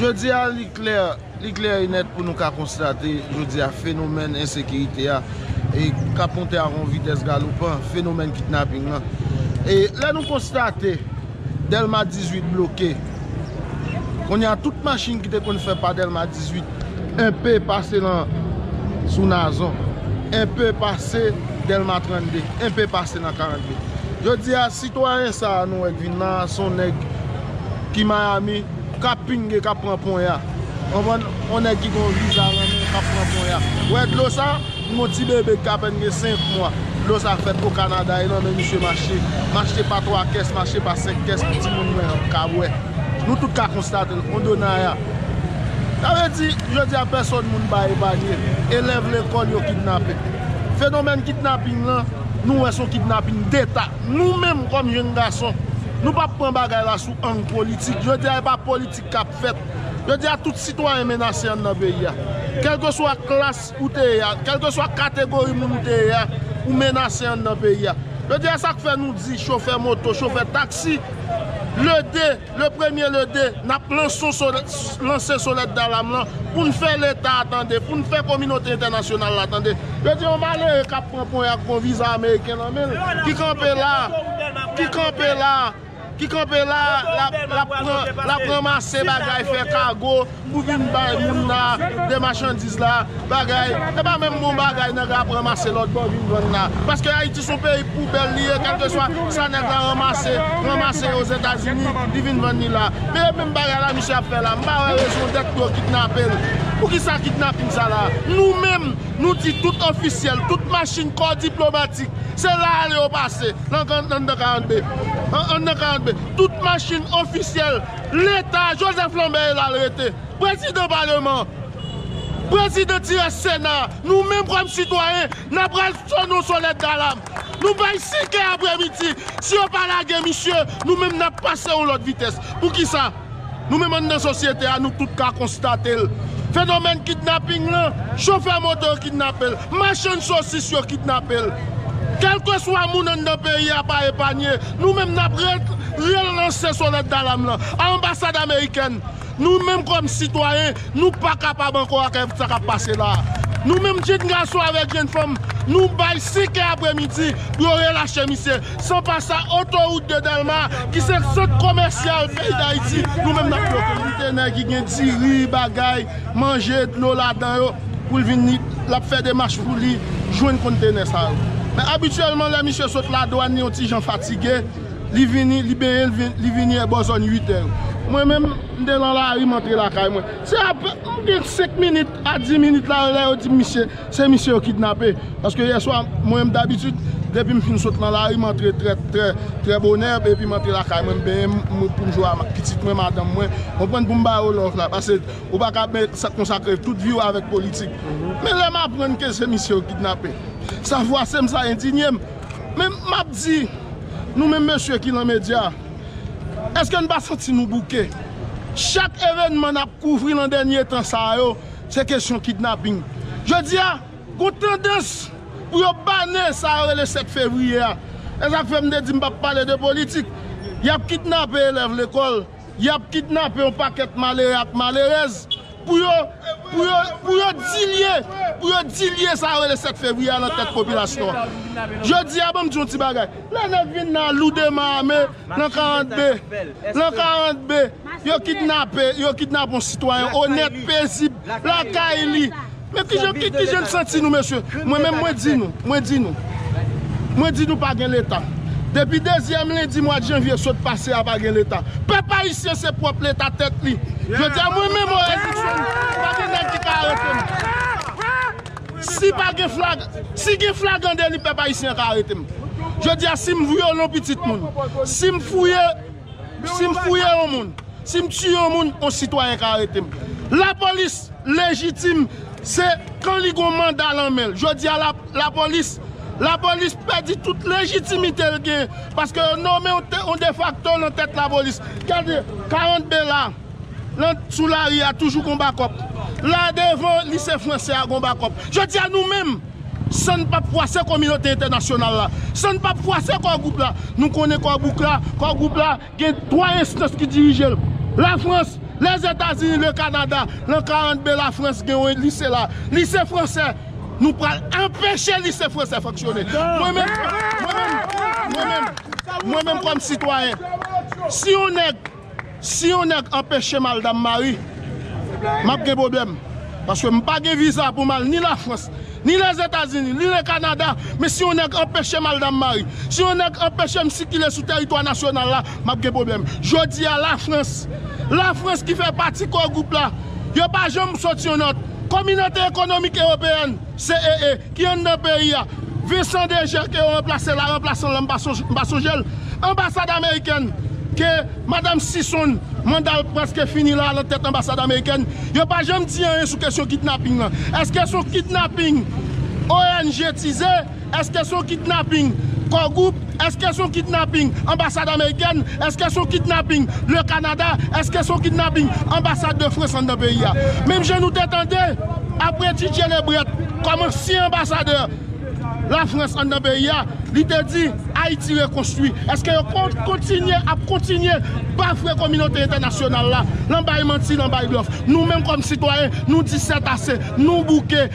Jodi a li klè, li klè e nèt pou nou ka konstate jodi a fenomèn ensekirite a e k ap monte a yon vitès galopan, fenomèn kidnaping lan. E lè nou konstate Dèlma 18 bloke, kounye a tout machin ki te konn fè pa Dèlma 18, Enpe pase lan sou nazon. Enpe pase delma 32. Enpe pase nan 42. Jodi a sitwayen sa a nou wè k vin lan an son nèg ki miami kap pinge kap pran ponya. Konprann? On nèg ki gon viza lan men kap pran ponya. Ou wè dlo sa? M gon ti bebe k apèn gen 5 mwa. Dlo sa fèt o kanada e lan men misye mache. Mache pa 3 kès, mache pa 5 kès pou timoun mwen an ka bwè. Nou tout ka konstate l. On donaya. Sa vle di, jodi a pèsòn moun pa epanye, elèv lekòl yo kidnape. Fenomèn kidnaping lan, nou wè son kidnaping deta. Nou menm kòm jenn gason, nou pa pran bagay la sou ang politik. Jodi a e pa politik k ap fèt. Jodi a tout sitwayen menase anndan peyi a. Kèlkeswa klas ou te ye a, kèlkeswa kategori moun ou te ye a, ou menase anndan peyi a. Jodi a sa k fè nou di chofè moto, chofè taksi, lede. Le premye le de, n ap lanse sonèt dalam lan pou n fè Leta a tande, pou n fè kominote entènasyonal la tande. Yo di yon malere k ap pran ponya ak yon viza ameriken nan men l, ki kanpe la a, ki kanpe la a, ki kanpe la a, l ap ranmase bagay, fè kago. Pou vin bay moun la de machandiz la bagay e pa menm bon bagay nèg la ap ranmase lòt bò vin vann la paske ayiti son peyi poubèl li ye kèlkeswa sa nèg la ranmase ranmase ozetazini li vin vann li la men e menm bagay la misye ap fè la m pa wè rezon dèt pou yo kidnape l poukisa kidnaping sa la nou menm nou di tout ofisyèl tout machin kò diplomatik se la ale yo pase nan anndan 42 anndan 42 tout machin ofisyèl. Leta, Joseph Lambert e la l rete. Prezidan paleman an, prezidan ti rès sena a, nou menm kòm sitwayen, n a pral sone yon sonèt dalam. Nou bay 5 è aprè midi, si yo pa lage misye, nou menm n ap pase yon lòt vitès. Poukisa? Nou menm anndan sosyete a, nou tout ka konstate l. Fenomèn kidnaping lan, chofè moto yo kidnape l, machann sosis yo kidnape l. Kèlkeswa moun anndan peyi a pa epanye, Nou menm nap ret relanse sonèt dalam lan a anbasad amerikèn nou menm kòm sitwayen nou pa kapab ankò ak sa kap pase la a nou menm jenn gason avèk jenn fanm nou bay 5 è aprè midi pou yo relache misye san pa sa otowout de dèlma ki se sant komèsyal peyi dayiti nou menm nap bloke l. Kote nèg ki gen diri bagay. manje, dlo ladan yo pou l vin l ap fè demach pou li jwenn konntenè sa yo. Men abityèlman lè misye sot ladwàn li yon ti jan fatige, li vini, li benyen li vini e bò zòn uitè yo. Mwen menm, m te lan lari m antre lakay mwen. Se apre m gen senk minit a di minit la lè yo di m misye, se misye yo kidnape. Paske yèswa mwen menm dabitid depi m fin sot lan lari m antre trè trè trè bonè epi m antre lakay mwen m benyen m pou m jwe a pitit mwen, madanm mwen, konprann pou m ba yo love la. Pase. Ou pa ka ap konsakre tout vi w avèk politik. Men lè m aprann ke se misye yo kidnape, sa fwase m, sa endinye m. Men m ap di nou menm mesye ki lan medya, èske n pa santi nou bouke? Chak evènman n ap kouvri lan dènye tan sa a yo, se kesyon kidnaping. Jodi a, gon tandans pou yo bane sa yo rele 7 fevriye a. E sa k fè m te di m pa p pale de politik. Y ap kidnape elèv lekòl. Yap kidnape yon pakèt malere ak malerèz pou yo pou yo dilye pou yo dilye sa yo rele 7 fevriye a nan tèt popilasyon an. Jodi a banm di yon ti bagay, lè nèg vin nan loudema ame nan 42 nan 42 yo kidnape yo kidnape yon sitwayen onèt pezib lakay li. Men kijan kijan n santi nou mesye mwen menm mwen di nou mwen di nou mwen di nou pa gen leta depi dezyèm lendi mwad janvye sot pase a pa gen leta pèp ayisyen se pwòp leta tèt li jodi a mwen menm Orel Luckson pa gen nèg ki ka arete m si pa gen flag si gen flagan deli pèp ayisyen ka arete m jodi a si m vyolon pitit moun si m fouye Si m fouye yon moun, si m tiye yon moun, yon sitwayen ka arete m. Lapolis lejitim se kan li gen yon manda lan men l. Jodi a lapolis, lapolis pèdi tout lejitimite l gen paske yo nome yon defakto lan tèt lapolis. Gade, 40 be la, lan sou lari a toujou gen yon bakòp. La devan lise franse a gen yon bakòp. Jodi a nou menm. San n pap fwase kominote entènasyonal la, san n pap fwase Core Group la, nou konnen Core Group la, Core Group la gen 3 enstans ki dirije l, Lafrans, Lèzetazini, Lekanada, lan Karant Be Lafrans gen yon lise la, lise fransè, nou pral anpeche lise fransè fonksyone. Mwen menm, mwen menm, mwen menm, mwen menm kòm sitwayen, si yon nèg. Si yon nèg anpechem al Dammari map gen pwoblèm paske m pa gen viza pou m al ni lafrans ni lèzetazini ni le kanada men si yon nèg anpechem al Dammari si yon nèg anpechem sikile sou tèritwa nasyonal la map gen pwoblèm jodi a lafrans lafrans ki fè pati core group la yo pa janm sot yon nòt kominote ekonomik ewopeyèn. CEE, ki anndan peyi a. Vincent Desjeux ke yo ranplase la, ranplasan lan m pa sonje, m pa sonje l. Anbasad amerikèn ke madam Sison manda l prèske fini la lan tèt anbasad amerikèn. Yo pa janm di anyen sou kesyon kidnaping lan. Eske son kidnaping ONG tize? Eske son kidnapping Core Group? Eske son kidnapping Anbasad Amerikèn? Eske son kidnapping Le Canada? Eske son kidnapping Anbasad de France anndan peyi a? Menm jan nou te tande apre Ti Djelebrèt kòm ansyen anbasadè La France anndan peyi a, li te di Ayiti rekonstwi. Eske yo kontinye ap kontinye bafwe kominote entènasyonal la lan bay manti, lan bay blòf? Nou menm kòm sitwayen, nou di sètase, nou bouke,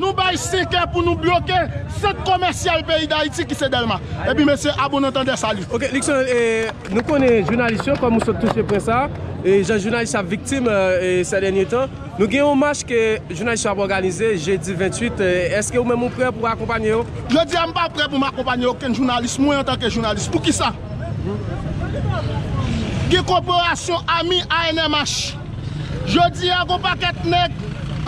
Nou bay 5 è pou nou bloke sant komèsyal peyi dayiti ki se delma epi mesye a bon antandè salut. Ok Luckson e nou konnen jounalis yo kòm ou sot touche pwen sa e jan jounalis yo ap viktim e sè dènye tan nou gen yon mach ke jounalis yo ap òganize jedi 28 e èske ou menm ou prè pou akonpanye yo? Jodi a m pa prè pou m akonpanye okenn jounalis mwen antanke jounalis poukisa? Gen koperasyon ami ANMH. Jodi a gon pakèt nèg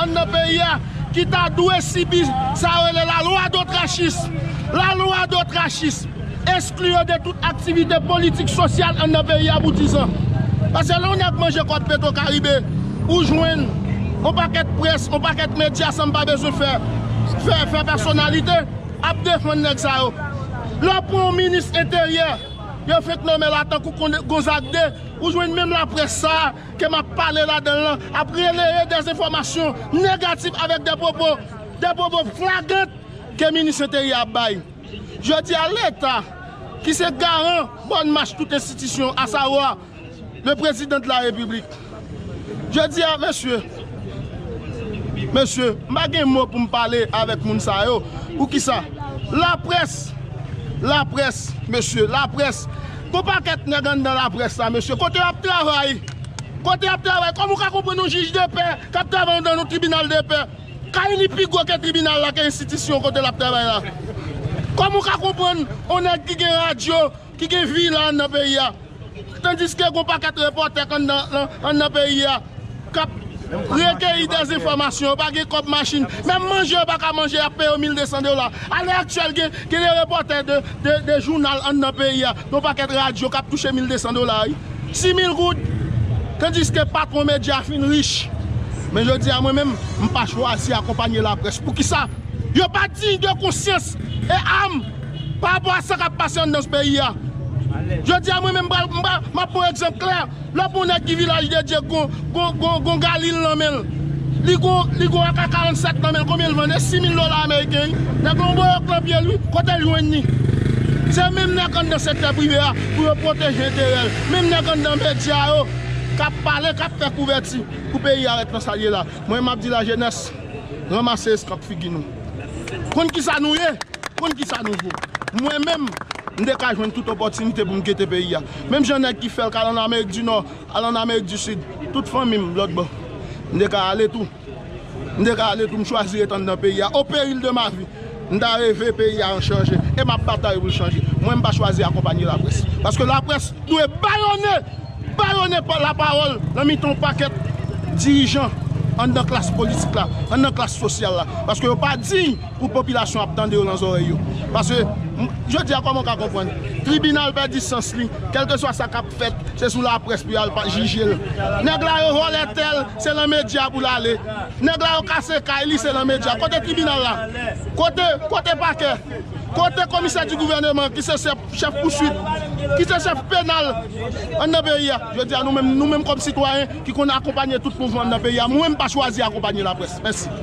anndan peyi a ki ta dwe sibi sa yo rele la lwa dotrachis. La lwa dotrachis eskli yo de tout aktivite politik, sosyal anndan peyi a pou dizan. Pase lè yon nèg manje kòb petro karibe ou jwenn yon pakèt près, yon pakèt medya san m pa bezwen fè fè pèsonalite ap defann nèg sa yo. Lè w pran yon minis enteryè yo fenk nonmen la tankou Gonzague 2. Ou jwenn menm laprès sa a ke m ap pale ladan l lan ap releye dezenfòmasyon negatif avèk de pwopo, de pwopo flagant ke minis Enteryè a bay. Jodi a Leta, ki se garan bòn mach tout enstitisyon asawwa le Prezidan de la Repiblik, jodi a mesye, Mesye, m pa gen mo pou m pale avèk moun sa yo. Poukisa? Laprès! Laprès, mesye, laprès! Gen yon pakèt nèg anndan laprès la, mesye. Kote y ap travay? Kote y ap travay? Kòman ou ka konprann yon jij de pè k ap travay anndan yon tribinal de pè? Kay li pi gwo ke tribinal la, ke enstitisyon kote l ap travay la. Kòman ou ka konprann yon nèg ki gen radyo? ki gen vi la anndan peyi a, tandiske gon paket repòtè k anndan peyi a k ap rekeyi dezenfòmasyon, yo pa gen kòb machin, menm manje yo pa ka manje y ap peye yo 1200 dola. A lè aktyèl gen de repòtè de jounal anndan peyi a, yon pakèt radyo k ap touche 1200 dola wi, 6000 goud, tandiske patwon medya fin rich. Men jodi a mwen menm, m pa chwazi akonpanye laprès. Poukisa? Yo pa diy de konsyans e a m. Pa rapò a sa k ap pase anndan peyi a, jodi a mwen menm m ap pran egzanp klè, lè w pran yon nèg ki Vilaj de Dye ki gon galil nan men l, li gon ak 47 nan men l, konbyen l vann? E 6 mil dola ameriken wi. Nèg la yon boyòk nan pye l wi, kote l jwenn li? Se menm nèg anndan sektè prive a pou yo pwoteje enterè l, menm nèg anndan medya yo k ap pale, k ap fè kouvèti pou peyi a ret nan sa l ye la. Mwen m ap di lajenès, ranmase eskanp figi nou. Konn kisa nou ye, konn kisa nou vo. Mwen menm, m te ka jwenn tout opòtinite pou m kite peyi a. Menm jan nèg ki fè l k al ann Amerik di Nò, al ann Amerik di Sid, tout fanmi m lòtbò, m te ka ale tou. M te ka ale tou, m chwazi ret anndan peyi a. O peril de ma vie! M ta reve peyi a an chanje e m ap batay pou l chanje. Mwen m pa chwazi akonpanye laprès. Paske laprès dwe bayonnen Ba yo nenpòt lapawòl nan mitan yon pakèt dirijan anndan klas politik la, anndan klas sosyal la. Paske yo pa diy pou popilasyon an ap tande yo nan zòrèy yo. Paske, jodi a kòman w ka konprann? Tribinal pèdi sans li, kèlkeswa sa k ap fèt, se sou laprès pou y al jije l. Nèg la yo vòlè tè l, se lan medya pou l ale. Nèg la yo kase kay li, se lan medya. Kote tribinal la? Kote, kote pakè? Kote komisè di gouvèneman ki se sè. chèf pouswit, ki se chèf penal anndan peyi a. Jodi a nou menm, nou menm kòm sitwayen ki konn akonpanye tout mouvman anndan peyi a, mwen m pa chwazi akonpanye laprès. Mèsi.